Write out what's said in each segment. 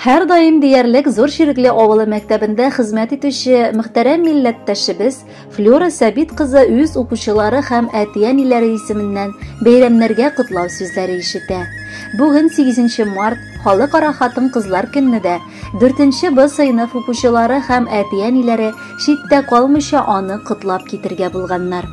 Һәрдаим диярлек Зур Чирекле авылы мәктәбендә хезмәт итүче мөхтәрәм милләттәшебез Флюра Сәбит кызы үз укучылары һәм әти-әниләре исеменнән бәйрәмнәргә котлау сүзләре ишетә. Бүген 8 март халыкара хатын-кызлар көнне дә 4 Б сыйныф укучылары һәм әти-әниләре читтә калмыйча аны котлап китергә булганнар.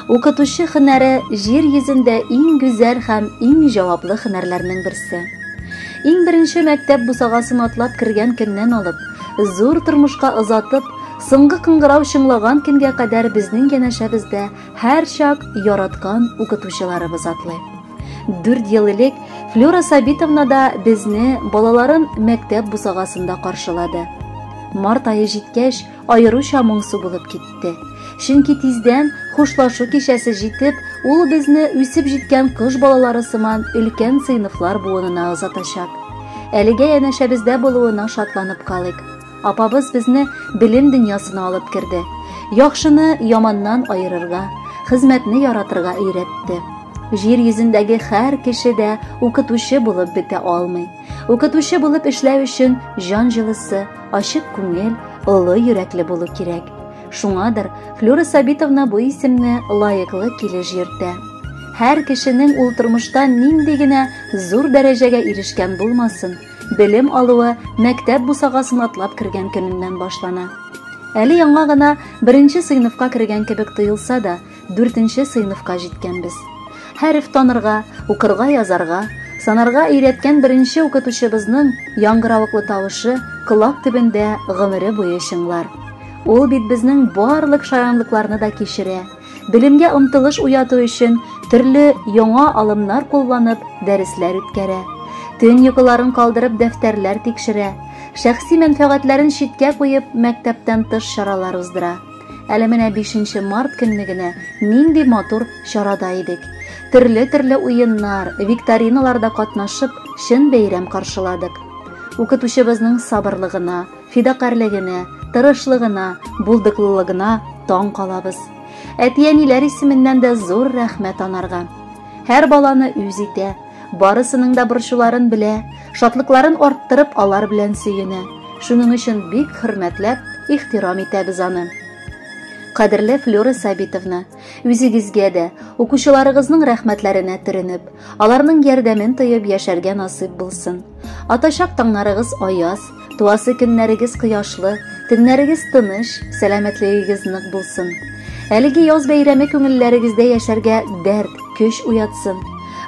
Укытучы хөнәре җир йөзендә иң гүзәл һәм иң җаваплы хөнәрләрнең берсе. Иң беренче мәктәп бусагасын атлап кергән көннән алып, зур тормышка озатып, соңгы кыңгырау чыңлаган көнгә кадәр безнең янәшәбездә һәрчак яраткан укытучыларыбыз атлый. Дүрт ел элек Флюра Сабитовна да безне, балаларын мәктәп бусагасында каршылады. Март айы җиткәч, аеруча моңсу булып китте. Чөнки тиздән хушлашу кичәсе җитеп, ул безне үсеп җиткән кыш балалары сыман өлкән сыйныфлар буынына озатачак. Әлегә янәшәбездә булуына шатланып калыйк. Апабыз безне белем дөньясына алып керде. Яхшыны яманнан аерырга, хезмәтне яратырга өйрәтте. Җир йөзендәге һәр кеше дә укытучы булып бетә алмый. Укытучы булып эшләү өчен җан җылысы, ачык күңел, олы йөрәкле булу кирәк. Шуңадыр, Флюра Сабитовна бу исемне лаеклы килеш йөртә. Һәр кешенең ул тормышта нинди генә зур дәрәҗәгә ирешкән булмасын, белем алуы мәктәп бусагасын атлап кергән көненнән башлана. Әле яңа гына беренче сыйныфка кергән кебек тоелса да, Дүртенче сыйныфка җиткәнбез. Хәреф танырга, укырга, язарга, санарга өйрәткән беренче укытучыбызның яңгыравыклы тавышы колак төбендә гомере буе чыңлар. Ул бит безнең барлык шаянлыкларны да кичерә. Белемгә омтылыш уяту өчен төрле яңа алымнар кулланып дәресләр үткәрә. Төн йокыларын калдырып дәфтәрләр тикшерә. Шәхси мәнфәгатьләрен читкә куеп мәктәптән тыш чаралар уздыра. Әле менә 5 март көнне генә нинди матур чарада идек. Төрле-төрле уеннар, викториналарда катнашып, чын бәйрәм каршыладык. Укытучыбызның сабырлыгына, фидакарьлегенә, тырышлыгына, булдыклылыгына таң калабыз. Әти-әниләр исеменнән дә зур рәхмәт анарга. Һәр баланы үз итә, Барысының да борчуларын белә, шатлыкларын арттырып алар белән сөенә. Шуның өчен бик хөрмәтләп, ихтирам итәбез аны. Кадерле Флюра Сабитовна, үзегезгә дә, укучыларыгызның рәхмәтләренә төренеп, аларның ярдәмен тоеп яшәргә насыйп булсын. Атачак таңнарыгыз аяз, Туасы көннәрегез кояшлы, төннәрегез тыныч, сәламәтлегегез нык булсын. Әлеге яз бәйрәме күңелләрегездә яшәргә дәрт, көч уятсын.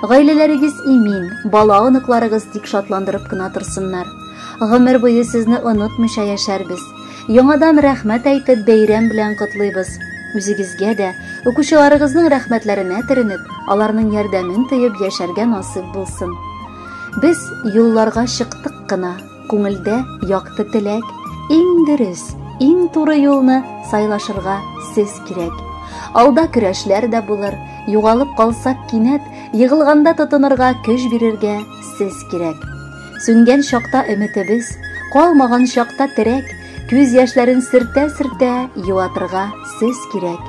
Гаиләләрегез имин, бала оныкларыгыз тик шатландырып кына торсыннар. Гомер буе сезне онытмыйча яшәрбез. Яңадан рәхмәт әйтеп, бәйрәм белән котлыйбыз. Үзегезгә дә, укучыларыгызның рәхмәтләренә төренеп, аларның ярдәмен тоеп яшәргә насыйп булсын. Без юлларга чыктык кына, күңелдә якты теләк, иң дөрес, иң туры юлны сайлашырга сез кирәк. Алда көрәшләр дә булыр, югалып калсак кинәт, егылганда тотынырга көч бирергә сез кирәк. Сүнгән чакта өметебез, калмаган чакта терәк, күз яшьләрен сөртә-сөртә юатырга сез кирәк.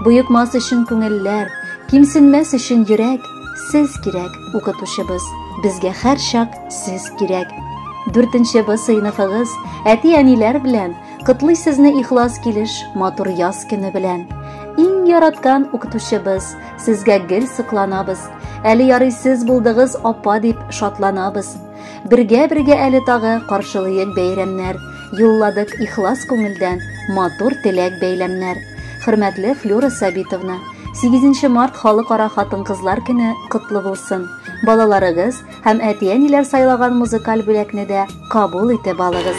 Боекмас өчен күңелләр, кимсенмәс өчен йөрәк, Сез кирәк, укытучыбыз, безгә һәрчак сез кирәк. Дүртенче Б сыйныфыгыз әти-әниләр белән котлый сезне ихлас килеш матур яз көне белән. Иң яраткан укытучыбыз, сезгә гел сокланабыз. Әле ярый сез булдыгыз, апа дип шатланабыз. Бергә-бергә әле тагы каршылыйк бәйрәмнәр, юлладык ихлас күңелдән матур теләк бәйләмнәр. Хөрмәтле Флюра Сабитовна, 8 март халыкара хатын-кызлар көне котлы булсын. Балаларыгыз һәм әти-әниләр сайлаган музыкаль бүләкне дә кабул итеп алыгыз.